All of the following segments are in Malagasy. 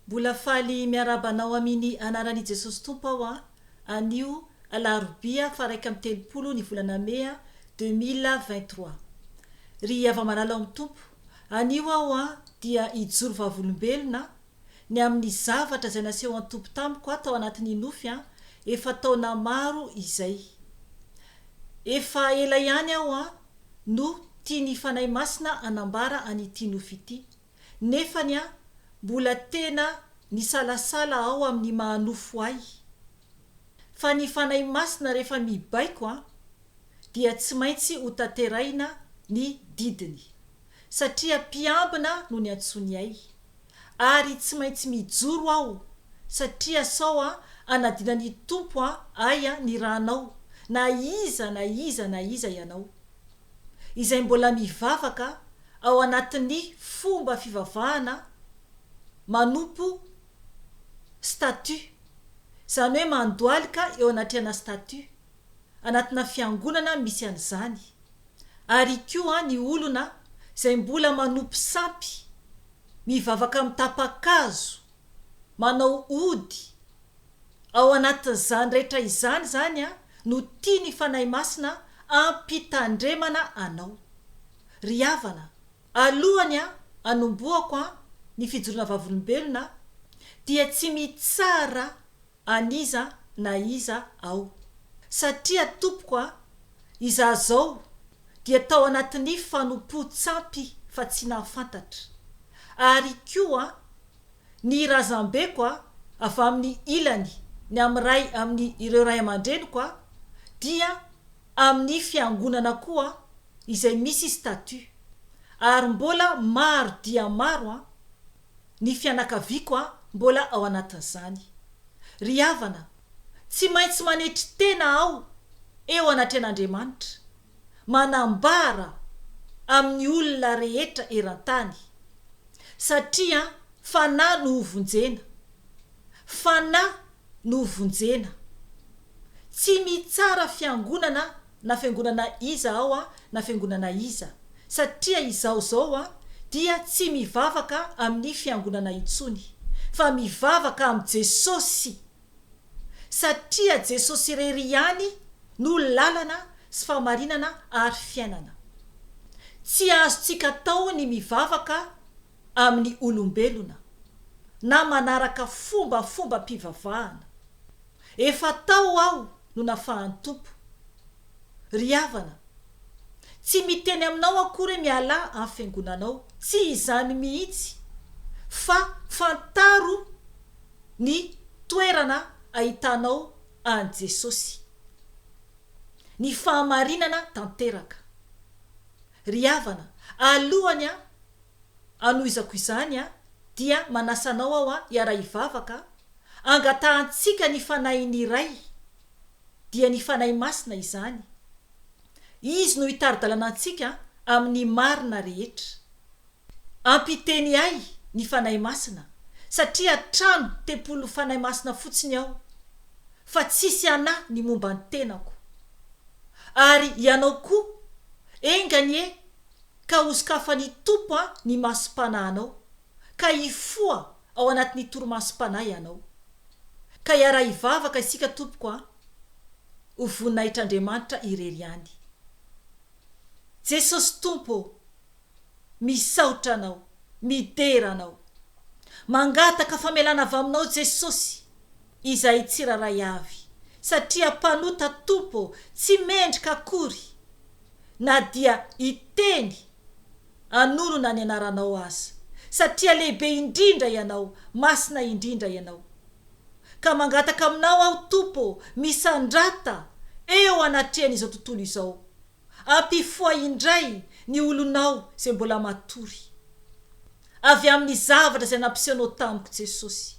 Mbola faly miarahaba anao amini anarani Jesosy Tompo aho a anio alarobia faha iraika amby telopolo ny volana mea deux mille vingt trois. Ry hava-malala ao amin'ny Tompo, anio aho a dia hijoro vavolombelona ny amin'ny zavatra izay nasehon Tompo tamiko a tao anatin'ny nofy a efa taona maro izay. Efa ela ihany aho a no tian'ny Fanahy Masina anambara an'ity nofy ity. nefany aho mbola tena nisalasala ao amin'ny maha nofo ahy. Fa ny Fanahy Masina rehefa mibaiko an, dia tsy maintsy ho tanterahina ny didiny, satria mpiambina no niantsoany ahy, ary tsy maintsy mijoro aho satria sao an anadinan'ny Tompo an ahy an ny ranao, na iza na iza na iza ianao. izay mbola mivavaka ao anatin'ny fomba fivavahana manompo statut, izany hoe mandohalika eo anatrehana statut, anatina fiangonana misy an'izany, ary koa ny olona izay mbola manompo sampy, mivavaka amin'ny tapa-kazo, manao ody ao anatin'izany rehetra izany izany no tian'ny Fanahy Masina ampitandremana anao. Ry havana, alohan'ny hanombohako ny fijoroana vavolombelona dia tsy mitsara an'iza na iza aho. Satria tompoko a, izaho zao dia tao anatin'ny fanompoan-tsampy fa tsy nahafantatra. Ary koa ny razambeko a, avy amin'ny ilany ny amin'ny iray amin'ny ireo ray aman-dreniko a, dia amin'ny fiangonana koa izay misy statut. Ary mbola maro dia maro a, Ny fianakaviako an mbola ao anatin'izany. Ry havana, tsy maintsy manetry tena aho eo anatrehan'Andriamanitra, manambara amin'ny olona rehetra eran-tany, satria fanahy no hovonjena, fanahy no vonjena. Tsy mitsara fiangonana na fiangonana iza aho a na fiangonana iza satria izao zao a dia tsy mivavaka amin'ny fiangonana intsony fa mivavaka am Jesosy satria Jesosy irery ihany no lalana sy fahamarinana ary fiainana. Tsy azontsika atao ny mivavaka amin'ny olombelona na manaraka fombafombam-pivavahana. Efa tao aho no nafahan'ny Tompo. Ry havana, tsy miteny aminao akory hoe mialà amin'ny fiangonanao, tsy izany mihitsy, fa fantaro ny toerana ahitanao an'i Jesosy, ny fahamarinana tanteraka. Ry havana, alohany anohizako izany dia manasa anao aho hiara-hivavaka hangatahantsika ny Fanahin'ny Ray, dia ny Fanahy Masina izany. Izy no hitari-dalana antsika amin'ny marina rehetra. Ampiteny ahy ny Fanahy Masina satria trano tempoly Fanahy Masina fotsiny aho fa tsisy anà ny momba ny tenako. Ary ianao koa, enga anie ka ho sokafan'ny Tompo an ny masom-panahinao ka hifoha ao anatin'ny torimasom-panahy ianao. Ka hiara-hivavaka isika tompoko an! Ho voninahitr'Andriamanitra irery ihany. Jesosy Tompo ô! Misaotra anao. Midera anao. Mangataka famelana avy aminao Jesosy izahay tsirairay avy satria mpanota Tompo ô tsy mendrika akory na dia hiteny hanorona ny anaranao aza satria lehibe indrindra ianao masina indrindra ianao ka mangataka aminao aho Tompo ô misandrata eo anatrehan'izao tontolo izao Ampifoha indray ny olonao izay mbola matory, avy amin'ny zavatra izay nampisehoanao tamiko, Jesosy.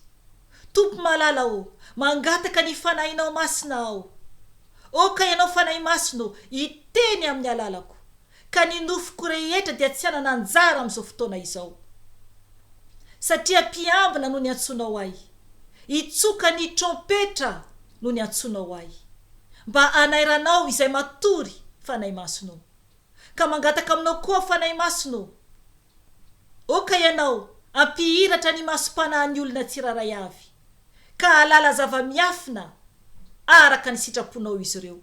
Tompo malala ô, mangataka ny Fanahinao Masina aho. Aoka Ianao Fanahy Masina ô, hiteny amin'ny alalako, ka ny nofoko rehetra dia tsy hanana anjara amin'izao fotoana izao. Satria mpiambina no niantsoanao ahy. Hitsoka ny trompetra no niantsoanao ahy, mba hanairanao izay matory, Fanahy Masina ô. Ka mangataka aminao koa aho, Fanahy Masina ô. Aoka Ianao hampihiratra ny masom-panahin'ny olona tsirairay avy, ka hahalala zava-miafina araka ny sitraponao izy ireo.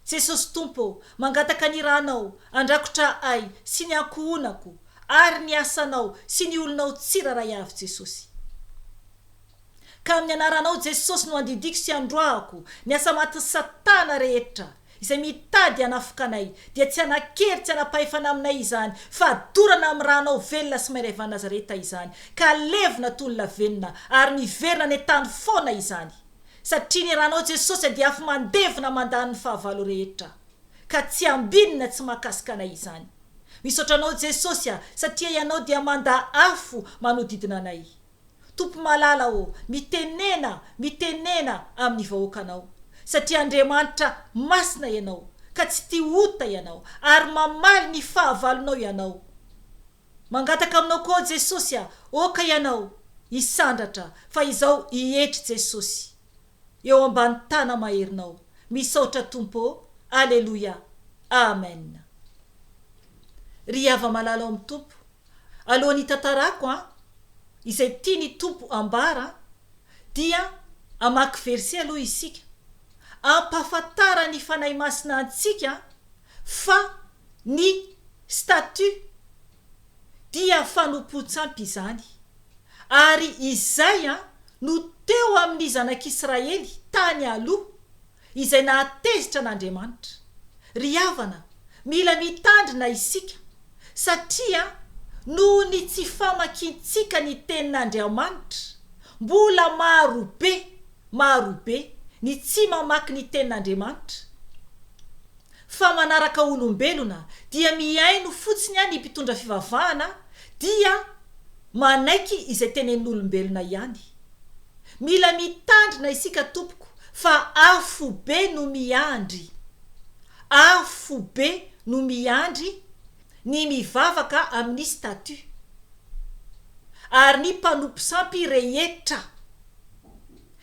Jesosy Tompo ô, mangataka ny Ranao handrakotra ahy sy ny ankohonako ary ny asanao sy ny olonao tsirairay avy Jesosy. Ka amin'ny anaranao Jesosy no andidiako sy androahako ny asa matin'i Satana rehetra izay mitady hanafoka anay dia tsy hanankery tsy hanam-pahefana aminay izany fa dorana amin'ny Ranao velona sy mairay evan'Nazareta izany ka levona toy ny lavenona ary miverina any an-tany foana izany. Satria ny ranao Jesosy dia afo mandevona mandany ny fahavalo rehetra ka tsy ambiny na tsy mahakasika anay izany. Misaotra anao Jesosy a satria ianao dia manda afo manodidina anay. Tompo malala ô mitenena mitenena amin'ny vahoakanao satria Andriamanitra masina ianao ka tsy tia ota ianao ary mamaly ny fahavalonao ianao. Mangataka aminao koa aho Jesosy a! Oka ianao hisandratra fa izao hietry Jesosy eo ambany tana maherinao misaotra Tompo ô Aleloia Amen Ry hava-malala ao amin'ny Tompo alohan'ny hitantarako an izay tian'ny Tompo ambara dia hamaky verset aloha isika ampahafantaran'ny Fanahy Masina antsika fa ny statut dia fanompoan-tsampy izany, ary izay no teo amin'ny zanak'Israely tany aloha, izay nahatezitra an'Andriamanitra. Ry havana, mila mitandrina isika, satria noho ny tsy famakiantsika ny Tenin'Andriamanitra, mbola maro be Maro be ny tsy mamaky ny tenin'Andriamanitra fa manaraka olombelona dia mihaino fotsiny any mpitondra fivavahana dia manaiky izay tenenin'olombelona ihany. Mila mitandrina isika tompoko fa afo be no miandry afo be no miandry ny mivavaka amin'ny statut ary ny mpanompo sampy rehetra.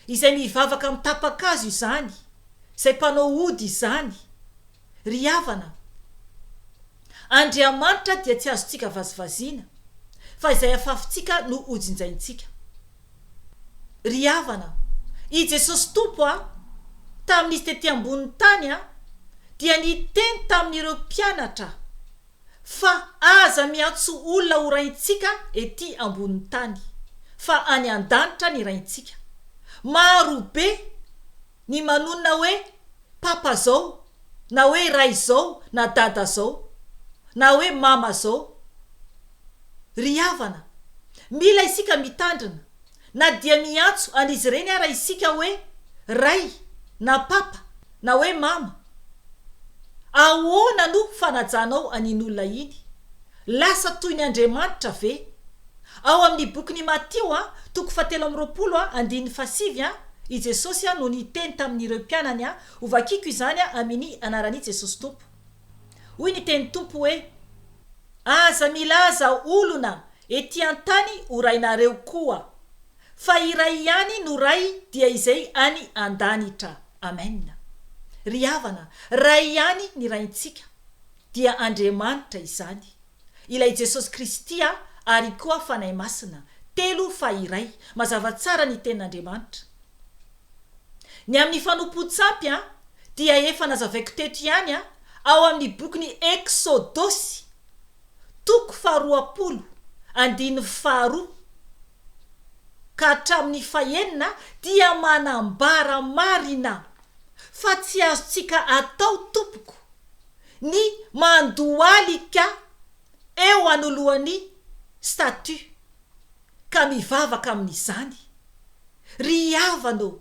izay mivavaka amin'ny tapa-kazo izany, izay mpanao ody izany. Ry havana, Andriamanitra dia tsy azontsika vazivaziana, fa izay afafintsika no hojinjaintsika. Ry havana, i Jesosy Tompo a, tamin'izy tety ambonin'ny tany a, dia niteny tamin'ireo mpianatra, fa aza miantso olona ho raintsika ety ambonin'ny tany fa any an-danitra ny raintsika. Maro be ny manonona hoe papa zao na hoe ray zao na dada zao na hoe mama zao. Ry havana, mila isika mitandrina. Na dia miantso an' izy ireny ara isika hoe Ray na Papa na hoe Mama, ahoana no fanajanao an' iny olona iny? Lasa toy ny andriamanitra ve? Ao amin' ny Bokin' i Matio an, toko fahatelo amby roapolo an, andininy fahasivy an, i Jesosy an no niteny tamin' ireo mpianany an, Hovakiko izany an amin' ny anaran' i Jesosy Tompo. Hoy ny teny Tompo hoe, Aza milaza olona ety an-tany ho rainareo koa, fa iray ihany no Ray dia izay any an-danitra. Amen. Ry havana, Ray ihany ny Raintsika, dia Andriamanitra izany. Ilay Jesosy Kristy ary koa Fanahy Masina, telo fa iray, mazava tsara ny tenin'Andriamanitra. Ny amin'ny fanompoan-tsampy dia efa nazavaiko teto ihany ao amin'ny bokin'ny Eksodosy, toko faharoapolo, andininy faharoa ka hatramin'ny fahenina dia manambara marina fa tsy azontsika atao tompoko ny mandohalika eo anoloan'ny statue ka mivavaka amin'izany. Ry havana ô!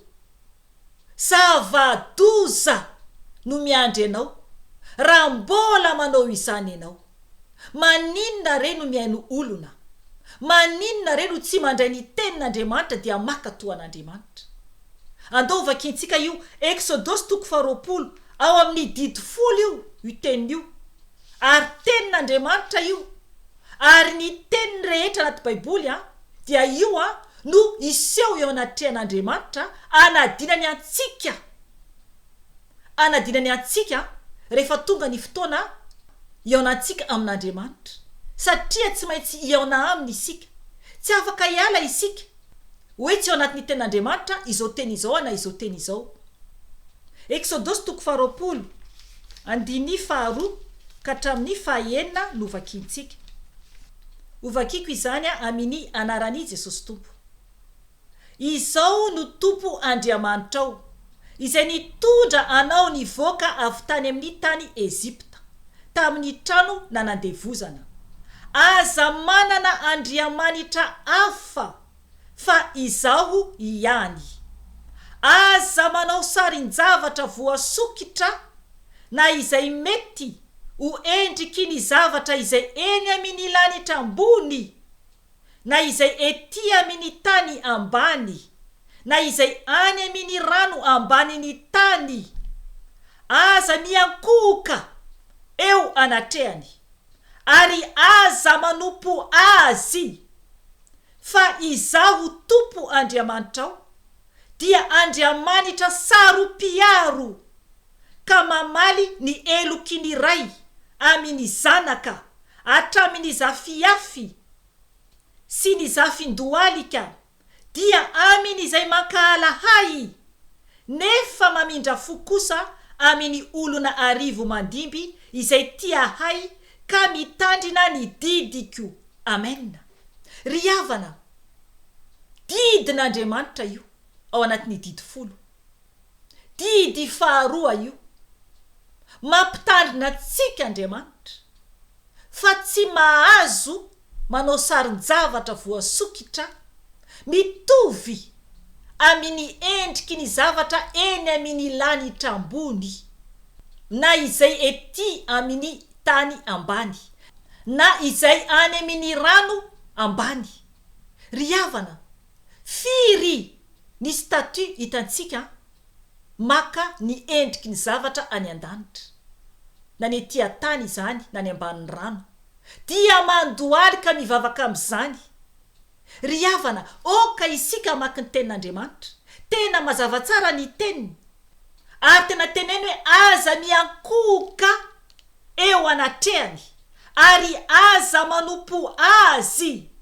Zava-doza no miandry anao raha mbola manao izany ianao. Maninona re no mihaino olona? Maninona re no tsy mandray ny Tenin'Andriamanitra dia maka toa an'Andriamanitra? Andao vakintsika io Eksodosy toko faharoapolo ao amin'ny didy folo io io tenin'io, ary Tenin'Andriamanitra io. Ary ny teniny rehetra anaty Baiboly dia io no hiseho eo anatrehan'Andriamanitra hanadinany antsika, hanadinany antsika rehefa tonga ny fotoana hihaonantsika amin'Andriamanitra, satria tsy maintsy hihaona Aminy isika. Tsy afaka hiala isika. hoe tsy ao anatin'ny tenin'Andriamanitra izao teny izao ana izao teny izao. Eksodosy toko faharoapolo, andininy faharoa ka hatramin'ny fahaenina no vakiantsika. Hovakiko izany amini anaran'i Jesosy Tompo. Izao no Tompo Andriamanitrao. izay nitondra anao nivoaka avy tany amin'ny tany Egypta, tamin'ny trano nanandevozana. Aza manana andriamanitra hafa fa Izaho ihany. Aza manao sarin-javatra voasokitra na izay mety ho endriky ny zavatra izay eny amin'ny lanitra ambony. na izay ety amin' ny tany ambany, na izay any amin' ny rano ambanin' ny tany, aza miankohoka eo anatrehany, ary aza manompo azy, fa Izaho Tompo Andriamanitrao dia Andriamanitra saro-piaro. ka mamaly ny heloky ny ray amy ny zanaka hatramy ny zafiafy sy ny zafin-dohalika, dia amy ny izay mankahala ahy, nefa mamindra fo kosa amy ny olona arivo mandimby izay tia ahy ka mitandrina ny didiko. Amena. Ry havana, didin' Andriamanitra io ao anaty ny didy folo. Didy faharoa io. Mampitandrina antsika Andriamanitra fa tsy mahazo manao sarin-javatra voasokitra mitovy aminy endriky ny zavatra eny aminy lanitra ambony na izay ety aminy tany ambany na izay any aminy rano ambany. Ry havana, Firy ny statue hitantsika maka ny endriky ny zavatra any an-danitra, na ny ety an-tany izany na ny ambanin'ny rano, dia mandohaly ka mivavaka amin'izany. Ry havana, aoka isika hamaky ny Tenin'Andriamanitra. Tena mazava tsara ny Teniny. ary tena teneno hoe aza miankohoka eo anatrehany ary aza manompo azy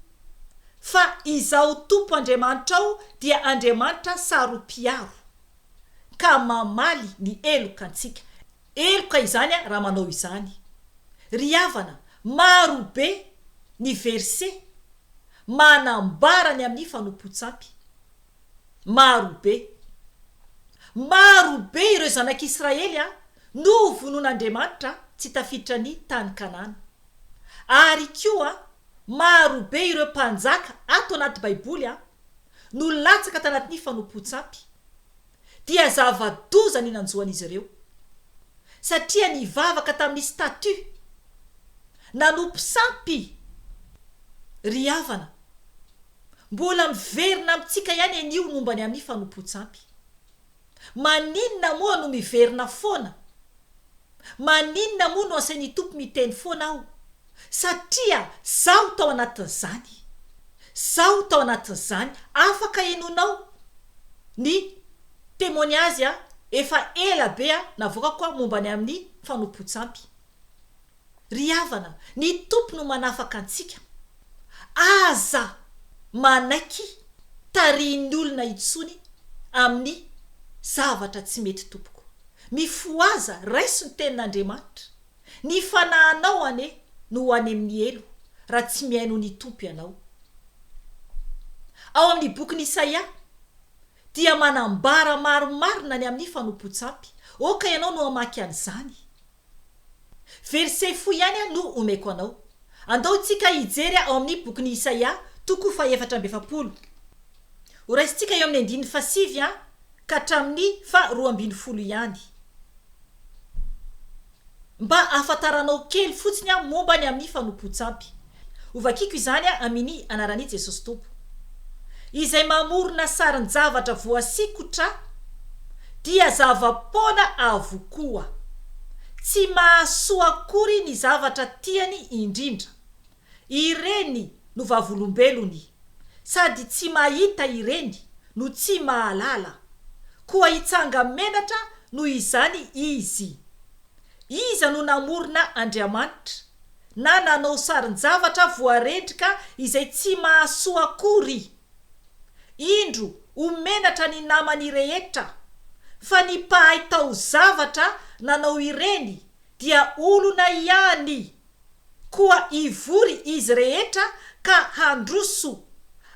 fa izaho Tompo Andriamanitrao dia Andriamanitra saro-piaro ka mamaly ny heloka antsika heloka izany raha manao izany ry havana maro be ny verset manambara ny amin'ny fanompoan-tsampy Maro be. Maro be ireo zanak'i Israely no ho vonoan'Andriamanitra tsy tafiditra ny tany Kanana. Ary koa maro be ireo mpanjaka ato anaty Baiboly no latsaka tanatin'ny fanompoan-tsampy. Dia zava-doza ny nanjoan'izy ireo. Satria nivavaka tamin'ny statue. Nanompo sampy ry havana. Mbola miverina amintsika ihany anie io momba ny amin'ny fanompoan-tsampy. Maninona moa no miverina foana? Maninona moa no asain'ny Tompo miteny foana aho? Satria zaho tao anatin'izany. Zaho tao anatin'izany. Afaka henoinao ny témoignage efa ela be navoakako momba ny amin'ny fanompoan-tsampy. Ry havana, ny Tompo no manafaka antsika. Aza manaiky tarihin'ny olona intsony amin'ny zavatra tsy mety tompoko. Mifohaza, raiso ny tenin'Andriamanitra. Ny fanahinao anie no ho any amin'ny helo raha tsy mihaino ny Tompo ianao. Ao amin'ny bokin'i Isaia dia manambara marimarina ny amin'ny fanompoan-tsampy. Aoka ianao no hamaky an'izany. Verset fohy ihany aho no omeko anao. Andao tsika hijery ao amin'ny bokin'i Isaia, toko fahefatra amby efapolo. Horaisintsika eo amin'ny andininy fahasivy ka hatramin'ny faha roa ambin'ny folo ihany. Mba hahafantaranao kely fotsiny aho momba ny amin'ny fanompoan-tsampy. Hovakiko izany a amini anarani Jesosy Tompo. Izay mamorona sarin-javatra voasikotra dia zava-poana avokoa. Tsy mahasoa akory ny zavatra tiany indrindra. Ireny no vavolombelony. Sady tsy mahita ireny no tsy mahalala. Koa hitsanga-menatra noho izany izy. Iza no namorona Andriamanitra, na nanao sarin-javatra voarendrika izay tsy mahasoa akory? Indro ho menatra ny namany rehetra, fa ny mpahay taozavatra nanao ireny dia olona ihany, koa hivory izy rehetra ka handroso,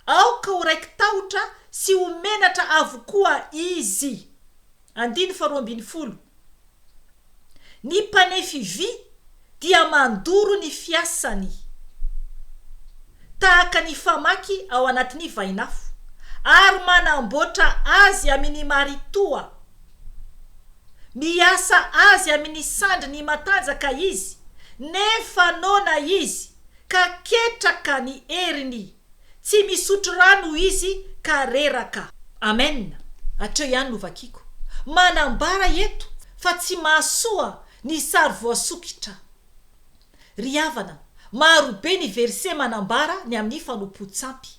aoka ho raiki-tahotra sy ho menatra avokoa izy. Andininy faharoa ambin'ny folo. Ny mpanefy vy dia mandoro ny fiasany, tahaka ny famaky ao anatin'ny vainafo, ary manamboatra azy amin'ny maritoa. Miasa azy amin'ny sandriny matanjaka izy, nefa noana izy, ka ketraka ny heriny. Tsy misotro rano izy ka reraka. Amen! Hatreo ihany no vakiako. Manambara eto fa tsy mahasoa ny sary voasokitra. Ry havana, maro be ny verset manambara ny amin'ny fanompoan-tsampy.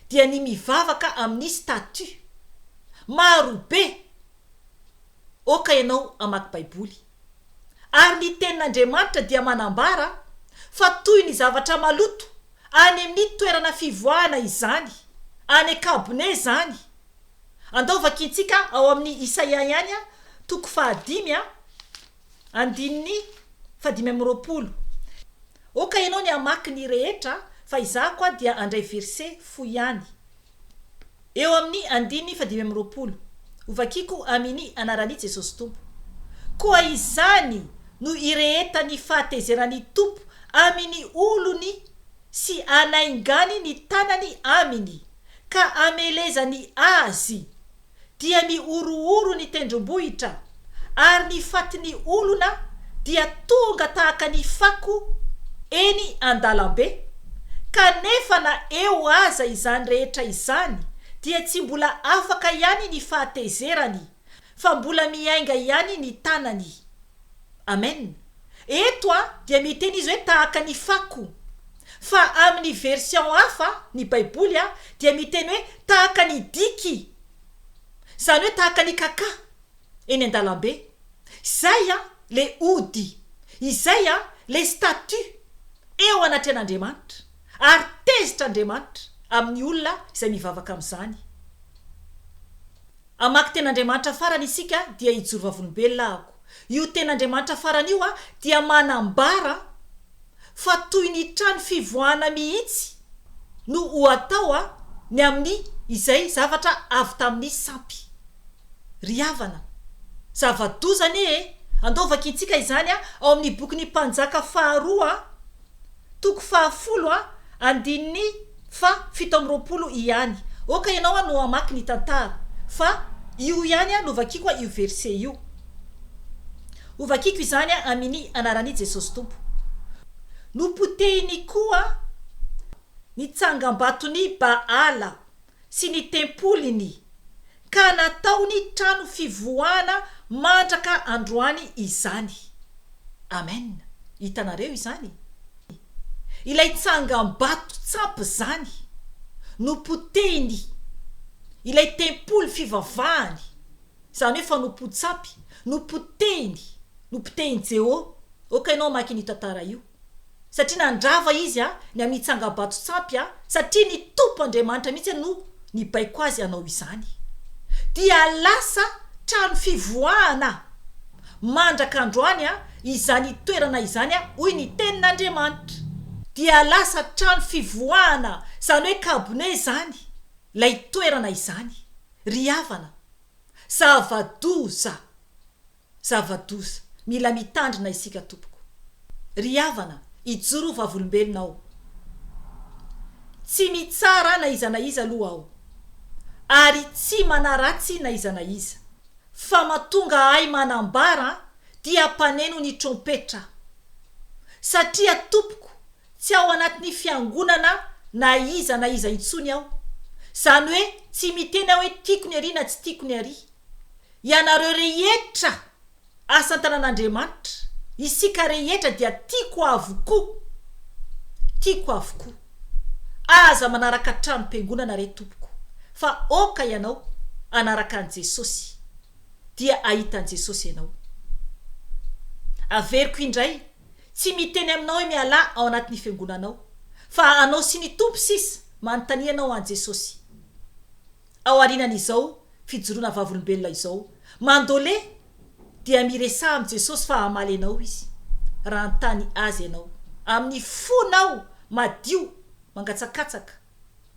Dia ny mivavaka amin'ny statue. Maro be! Oka ianao hamaky Baiboly. Ary ny Tenin'Andriamanitra dia manambara fa toy ny zavatra maloto any amin'ny toerana fivoahana izany, any an-kabone izany. Andao vakintsika ao amin'ny Isaia ihany, toko fahadimy, andininy fahadimy amby roapolo. Aoka ianao ny hamaky ny rehetra fa izaho koa dia handray verset fohy ihany. Eo amin'ny andininy fahadimy amby roapolo, Hovakiko amini anaran'i Jesosy Tompo. Koa izany no irehetan'ny fahatezeran'ny Tompo amin'ny olony sy anaingany ny tanany aminy ka amelezany azy dia ny horohoro ny tendrombohitra, ary ny fatin'ny olona dia tonga tahaka ny fako eny an-dalambe, kanefa na eo aza izany rehetra izany dia tsy mbola afaka ihany ny fahatezerany, fa mbola miainga ihany ny tanany. Amen. Eto a dia miteny izy hoe tahaka ny fako. Fa amin'ny version hafa, ny baiboly a, dia miteny hoe tahaka ny diky. Zany hoe tahaka ny kaka eny an-dalambe. Izay a le ody. Izay a le statut eo anatrehan'Andriamanitra. Ary tezitr'Andriamanitra amin'ny olona izay mivavaka amin'izany. Hamaky tena Andriamanitra farany isika dia hijoro vavolombelona ahako. Io tena Andriamanitra farany io dia manambara fa toy ny trano fivoahana mihitsy no ho atao ny amin'ny izay zavatra avy tamin'ny sampy. Ry havana, zava-doza anie e! Andao vakintsika izany ao amin'ny bokin'ny Mpanjaka faharoa. Toko faha folo a, andininy fa fito amby roapolo iany. Ok ianao a no hamaky ny tantara fa io iany a no vakiko a io verset io. Ho vakiko izany a amini anarani Jesosy Tompo. Nopotehiny koa ny tsangambatoni Baala. sy ny tempoliny, ka nataony trano fivoahana mandraka androany izany. Amen. Hitanareo izany? Ilay tsangambato tsampy izany, nopotehiny, ilay tempoly fivavahany, izany hoe fanompoan-tsampy, nopotehiny, nopotehin'i Jeho. Ok, ianao hamaky an'io tantara io. satria nandrava izy ny amin'ny tsangabato-tsampy, satria ny Tompo Andriamanitra mihitsy no nibaiko azy hanao izany. Dia lasa trano fivoahana mandraka androany izany toerana izany, hoy ny Tenin'Andriamanitra. Dia lasa trano fivoahana, izany hoe kabone izany, ilay toerana izany. Ry havana, zava-doza! Zava-doza. Mila mitandrina isika tompoko. Ry havana, ijoro ho vavolombelona aho. Tsy mitsara na iza na iza aloha aho. Ary tsy manaratsy na iza na iza. Fa matonga ahy manambara dia mpaneno ny trompetra aho. Satria tompoko, tsy ao anatin'ny fiangonana na iza na iza intsony aho. Izany hoe tsy miteny aho hoe tiako ny arỳ na tsy tiako ny arỳ. Ianareo rehetra asa an-tanan'Andriamanitra, isika rehetra dia tiako avokoa, tiako avokoa. Aza manaraka tranom-piangonana re tompoko, fa oka ianao hanaraka an'i Jesosy, dia hahita an'i Jesosy ianao. Averiko indray, tsy miteny aminao hoe mialà ao anatin'ny fiangonanao, fa anao sy ny Tompo sisa manontanianao an'i Jesosy. Ao aorianan'izao fijoroana vavolombelona izao, mandole dia miresaha amin'i Jesosy fa hamaly anao Izy, raha hanontany Azy ianao. Amin'ny fonao madio mangatsakatsaka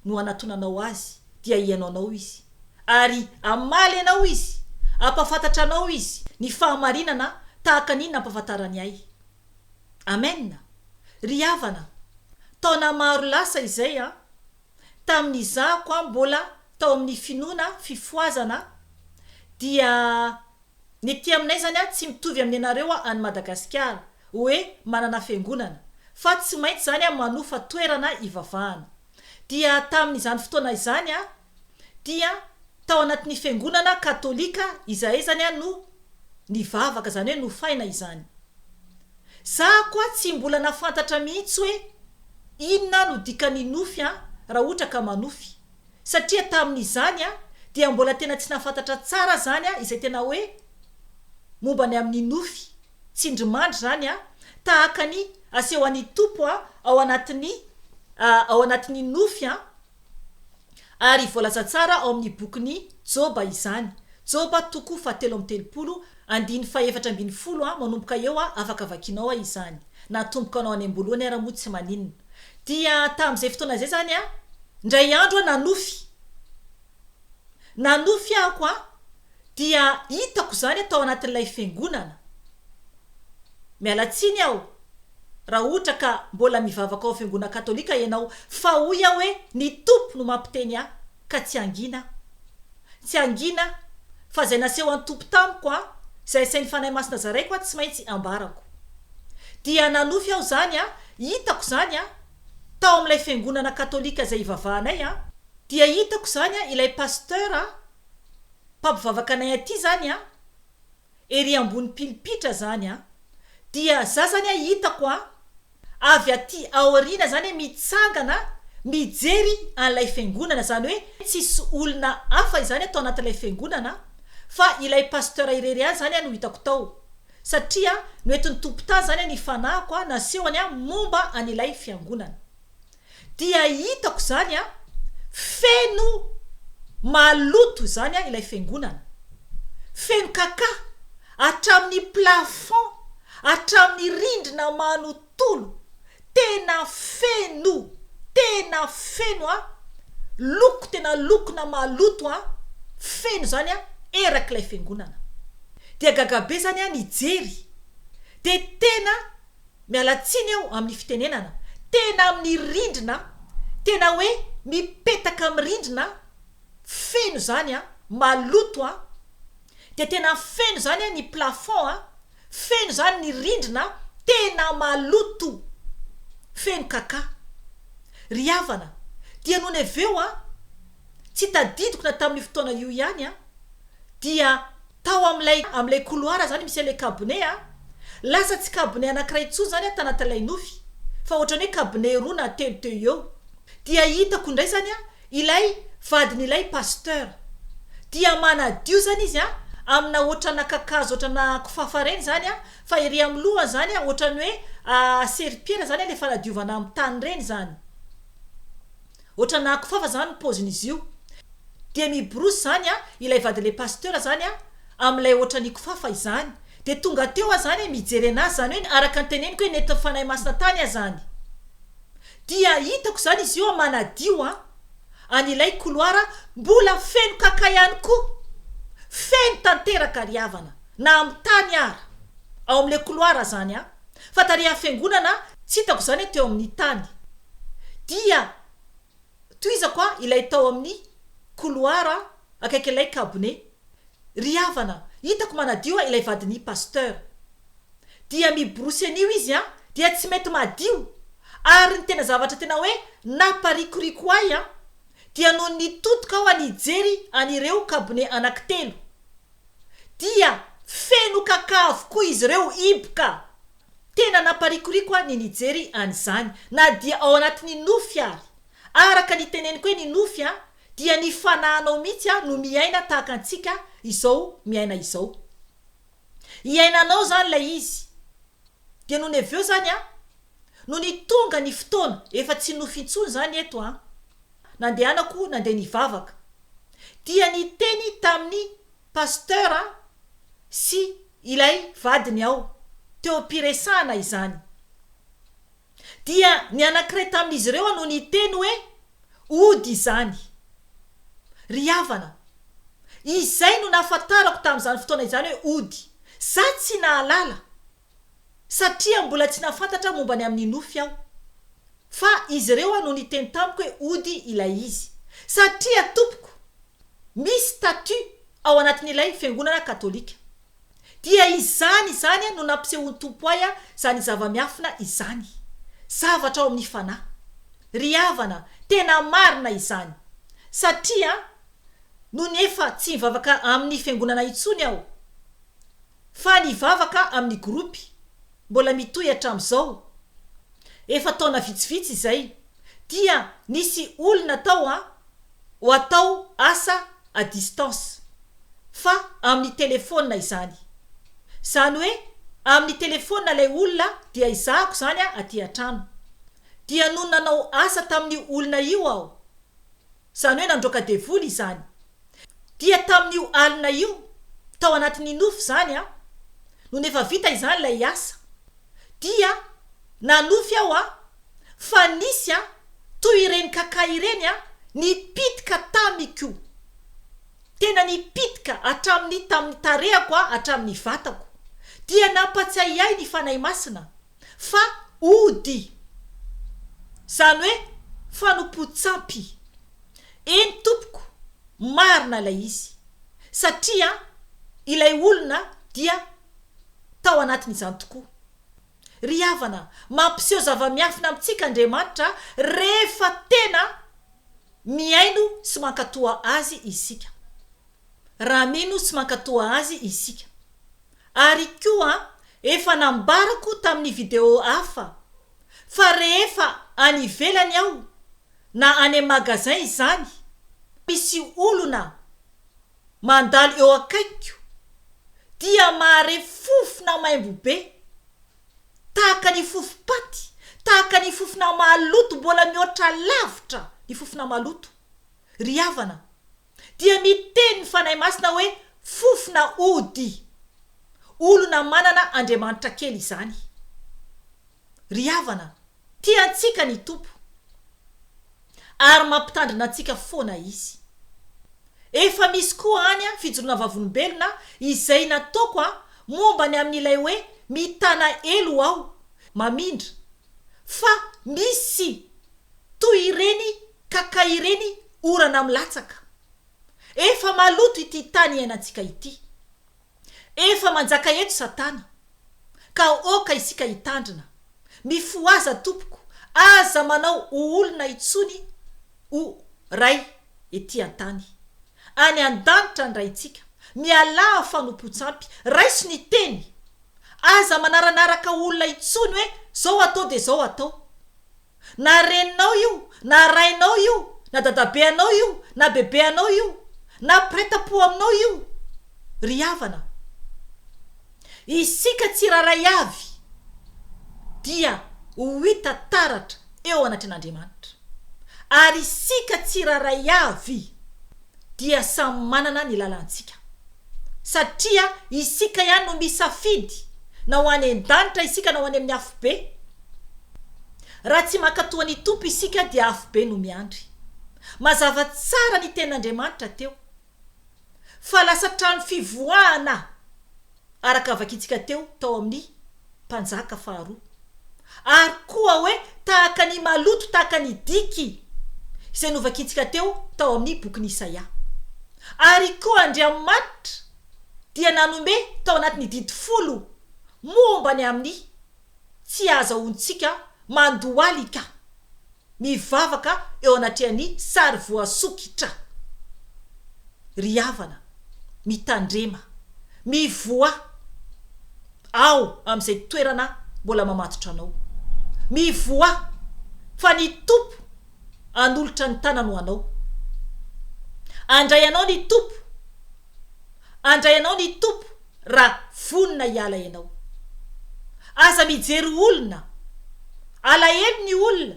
no hanatonanao Azy, dia hihaino anao Izy, ary hamaly anao Izy. Hampahafantatra anao Izy ny fahamarinana tahaka ny nampahafantarany ahy. Amen! Ry havana, taona maro lasa izay an! tamin'ny izahako aho mbola tao amin'ny finoana fifohazana dia ny ety aminay izany an tsy mitovy amin'ny anareo an any Madagasikara hoe manana fiangonana fa tsy maintsy izany an manofa toerana ivavahana dia tamin'izany fotoana izany an dia tao anatin'ny fiangonana katolika izahay izany an no nivavaka zany hoe nofaina izany. Za koa tsy mbola nafantatra mihitsy hoe inona no dikan'ny nofy an raha ohatra ka manofy satria tamin'izany an dia mbola tena tsy nafantatra tsara zany an izay tena hoe momba ny amin'ny nofy tsindrimandry zany an tahaka ny aseho an'ny Tompo an ao anatin'ny ao anatin'ny nofy an Ary voalaza tsara ao amin'ny bokin'i Joba izany, Joba toko fahatelo amby telopolo, andininy fahefatra ambin'ny folo, manomboka eo, afaka vakianao izany, na atomboka anao any am-boalohany ara moa tsy maninona. Dia tamin'izay fotoana izay izany, indray andro nanofy, nanofy aho, dia hitako izany tao anatin'ilay fiangonana. Miala tsiny aho raha ohatra ka mbola mivavaka ao fiangonana katolika ianao fa hoy aho hoe ny Tompo no mampiteny ahy ka tsy hangina aho. Tsy hangina aho fa izay nasehon'ny Tompo tamiko an, izay asain'ny Fanahy Masina zaraiko an tsy maintsy ambarako. Dia nanofy aho izany an, hitako izany an, tao amin'ilay fiangonana katolika izay ivavahanay an, dia hitako izany an ilay pasteur an mpampivavaka anay aty zany a, ery ambony pilipitra zany a, dia za zany a hitako a, avy aty aoriana zany a mitsangana mijery an'ilay fiangonana, zany hoe tsisy olona hafa izany tao anatin'ilay fiangonana fa ilay pasteur irery ihany zany a no hitako tao, satria noentin'ny tompon-tany zany a ny fanahiko a nasehony a momba an'ilay fiangonana. Dia hitako izany an, feno maloto izany an ilay fiangonana. Feno kaka, hatramin'ny plafond, hatramin'ny rindrina manontolo, tena feno, tena feno an, loko tena lokona maloto an, feno izany an erak'ilay fiangonana. Dia gaga be izany an nijery, dia tena Miala tsiny aho amin'ny fitenenana tena amin'ny rindrina tena hoe mipetaka amin'ny rindrina feno izany an, maloto an, dia tena feno izany an ny plafond an, feno izany ny rindrina tena maloto feno kaka. Ry havana, dia nony avy eo an, tsy tadidiko na tamin'io fotoana io ihany an, dia. Tao amin'ilay amin'ilay couloir izany misy an'ilay cabinet a, lasa tsy cabinet anankiray intsony izany a tanatin'ilay nofy fa ohatran'ny hoe cabinet roa na telo teo eo, dia hitako indray izany a ilay vadin'ilay pasteur, dia manadio izany izy a amina ohatrana kakazo ohatrana kofafa ireny izany a, fa ery amin'ny lohany izany a ohatran'ny hoe seripera izany ilay fanadiovana amin'ny tany ireny izany. Otrana akofafa zany ny pozin'izy io. Dia miborosy zany a ilay vadin'ilay pasteur zany a amin'ilay otrany ikofafa izany. Dia tonga teo a zany mijery anazy zany hoe araka ny teneniko hoe nentin'ny Fanahy Masina tany a zany. Dia hitako zany izy io a manadio a an'ilay couloir a mbola feno kaka ihany koa. Feno tanteraka ry havana na amin'ny tany ara ao amin'ilay couloir zany a. fa tarihan'ny fiangonana tsy hitako izany teo amin'ny tany dia tohizako aho ilay tao amin'ny couloir akaikin'ilay kabone ry havana hitako manadio aho ilay vadin'i pasteur dia miborosy an'io izy an dia tsy mety madio ary ny tena zavatra tena hoe naparikoriko ahy an dia nony nitodika aho any hijery an'ireo kabone anaky telo dia feno kaka avokoa izy ireo hiboka. Tena namparikoriko ahy ny nijery an'izany na dia ao anatin'ny nofy ary. Araka ny teneniko hoe ny nofy dia ny fanahinao mihitsy no miaina tahaka antsika izao miaina izao. Iainanao izany ilay izy dia nony avy eo izany an, nony tonga ny fotoana, efa tsy nofy intsony izany eto an, nandehanako nandeha nivavaka, dia niteny tamin'ny Pasteur sy ilay vadiny aho, teo am-piresahana izany. Dia ny anankiray tamin'izy ireo no niteny hoe, Ody izany. Ry havana, izay no nahafantarako tamin'izany fotoana izany hoe ody. Izaho tsy nahalala, satria mbola tsy nahafantatra momba ny amin'ny nofy aho. Fa izy ireo no niteny tamiko hoe ody ilay izy. Satria, tompoko, misy statut ao anatin'ilay Fiangonana Katolika. Dia izany izany no nampisehoan'ny Tompo ahy izany zava-miafina izany. Zavatra ao amin'ny fanahy. Ry havana, tena marina izany. Satria, nony efa tsy nivavaka amin'ny fiangonana intsony aho, fa nivavaka amin'ny gropy, mbola mitohy hatramin'izao, efa taona vitsivitsy izay, dia nisy olona tao an, ho atao asa à distance fa amin'ny telefaonina izany. Izany hoe amin'ny telefaonina ilay olona dia ezahako izany aty an-trano. Dia nony nanao asa tamin'io olona io aho, izany hoe nandroaka devoly izany, dia tamin'io alina io, tao anatin'ny nofy izany an, nony efa vita izany ilay asa dia Nanofy aho a! Fa nisy a! Toy ireny kaka ireny a! Nipitika tamiko! Tena nipitika hatramin'ny tamin'ny tarehako a! Hatramin'ny vatako! Dia nampatsiahy ahy ny Fanahy Masina fa ody! Izany hoe fanompoan-tsampy! Eny tompoko! Marina ilay izy! Satria ilay olona dia tao anatin'izany tokoa! Ry havana, mampiseho zava-miafina amintsika Andriamanitra rehefa tena mihaino sy mankatò Azy isika. Raha mino sy mankatò Azy isika. Ary koa efa nambarako tamin'ny video hafa fa rehefa any ivelany aho na any magasin izany, misy olona, Mandalo eo akaikiko dia mahare fofona maimbo be, tahaka ny fofompaty, tahaka ny fofona maloto mbola mihoatra lavitra ny fofona maloto. Ry havana, dia miteny ny Fanahy Masina hoe fofona ody. Olona manana Andriamanitra kely izany. Ry havana, Tia antsika ny Tompo, ary mampitandrina antsika foana Izy. Efa misy koa any an fijoroana vavolombelona izay nataoko an momba ny amin ilay hoe mitana elo aho, mamindra, fa misy toy ireny kaka ireny orana milatsaka. Efa maloto ity tany iainantsika ity. Efa manjaka eto satana ka aoka isika hitandrina, mifohaza tompoko aza manao ho olona intsony o Ray ety antany, any andanitra ny Raintsika, mialà fanompontsampy, raiso ny teny, aza manaranaraka olona intsony hoe zao atao dia zao atao. Na reninao io, na rainao io, na dadabe anao io, na bebe anao io, na mpiray tampo aminao io, ry havana. Isika tsirairay avy dia ho hita taratra eo anatrehan'Andriamanitra. Ary isika tsirairay avy. dia samy manana ny lalantsika. Satria isika ihany no misafidy na ho any an-danitra isika na ho any amin'ny afobe. Raha tsy mankatò an'ny Tompo isika dia afobe no miandry. Mazava tsara ny tenin'Andriamanitra teo fa lasa trano fivoahana araka vakintsika teo tao amin'ny Mpanjaka faharoa, ary koa hoe tahaka ny maloto tahaka ny diky, izay novakintsika teo tao amin'ny bokin'i Isaia. Ary koa Andriamanitra dia nanombe tao anatin'ny didy folo momba ny amin'ny Tsy ahazahoantsika mandohalika mivavaka eo anatrehan'ny sary voasokitra. Ry havana, mitandrema, mivoaha ao amin'izay toerana mbola mamatotra anao. Mivoaha fa ny Tompo hanolotra ny tanany ho anao. Handray anao ny Tompo. Andray anao ny Tompo raha vonona hiala ianao. Aza mijery olona. Alahelo ny olona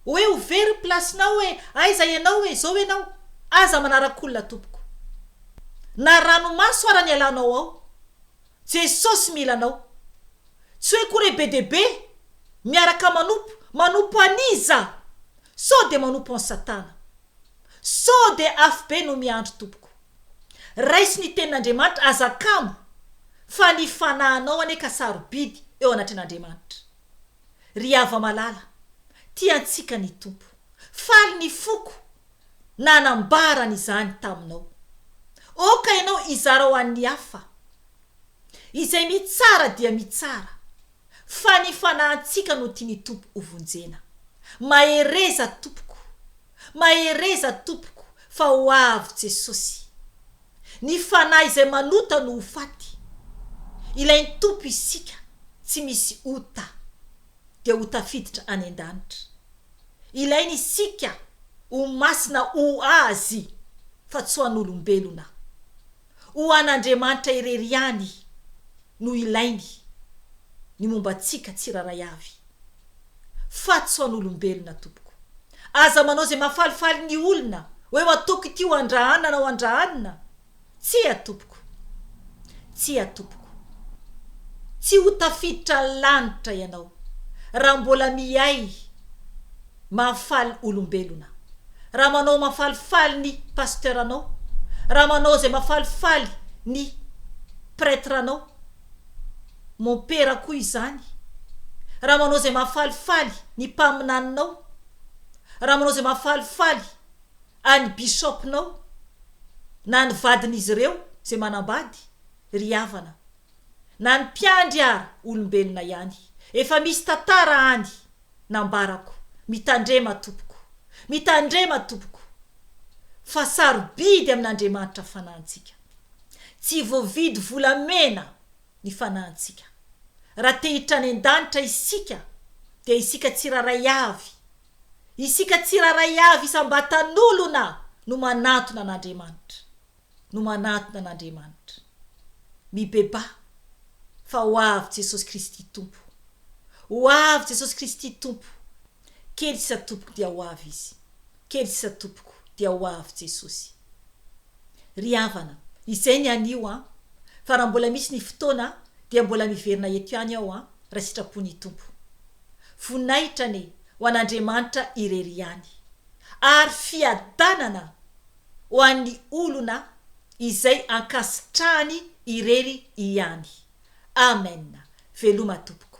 hoe ho very ny place-nao hoe aiza ianao hoe izao ianao. Aza manarak'olona tompoko. Na ranomaso ara ny alanao ao. Jesosy mila anao. Tsy hoe koa re be dia be miaraka manompo. Manompo an'iza? Sao dia manompo an'i Satana. Sao dia afobe no miandry tompoko. Raiso ny tenin'Andriamanitra, aza kamo fa ny fanahinao anie ka sarobidy eo anatrehan'Andriamanitra. Ry hava malala, tia antsika ny Tompo. Faly ny foko nanambarany izany taminao. Oka ianao hizara ho an'ny hafa. Izay mitsara dia mitsara fa ny fanahintsika no tian'ny Tompo hovonjena. Mahereza tompoko. Mahereza tompoko fa ho avy Jesosy. Ny fanahy izay manota no ho faty. Ilain'ny Tompo isika tsy misy ota dia ho tafiditra any an-danitra. Ilainy isika ho masina ho Azy fa tsy ho an'olombelona. Ho an'Andriamanitra irery ihany no ilainy ny momba antsika tsirairay avy. Faty sao an'olombelona tompoko. Aza manao izay mahafalifaly ny olona hoe ataoko ity ho andraana na ho andraanina. Tsia tompoko. Tsia tompoko. Tsy ho tafiditra ny lanitra ianao raha mbola miaiy Mahafaly olombelona raha manao mafalifaly ny pasteur anao, raha manao izay mafalifaly ny pretre anao, mompera koa izany, raha manao izay mahafalifaly ny mpaminaninao, raha manao izay mahafalifaly an'i bishop-nao na ny vadin'izy ireo izay manambady, ry havana. Na ny mpiandry ara olombelona ihany. Efa misy tantara any. nambarako, Mitandrema tompoko, mitandrema tompoko, fa sarobidy amin'Andriamanitra fanahintsika. Tsy voavidy volamena ny fanahintsika. Raha te hiditra any an-danitra isika, dia isika tsirairay avy, isika tsirairay avy isam-batan'olona no manantona an'Andriamanitra. no manatona an'Andriamanitra. Mibebaha fa ho avy Jesosy Kristy Tompo. Ho avy Jesosy Kristy Tompo. Kely sisa tompoko dia ho avy Izy. Kely sisa tompoko dia ho avy Jesosy. Ry havana, izay ny anio an! Fa raha mbola misy ny fotoana dia mbola miverina eto ihany aho an, raha sitrapon'ny Tompo. Voninahitra anie ho an'Andriamanitra irery ihany. Ary fiadanana ho an'ny olona izay ankasitrahany irery ihany. Amen. Veloma tompoko.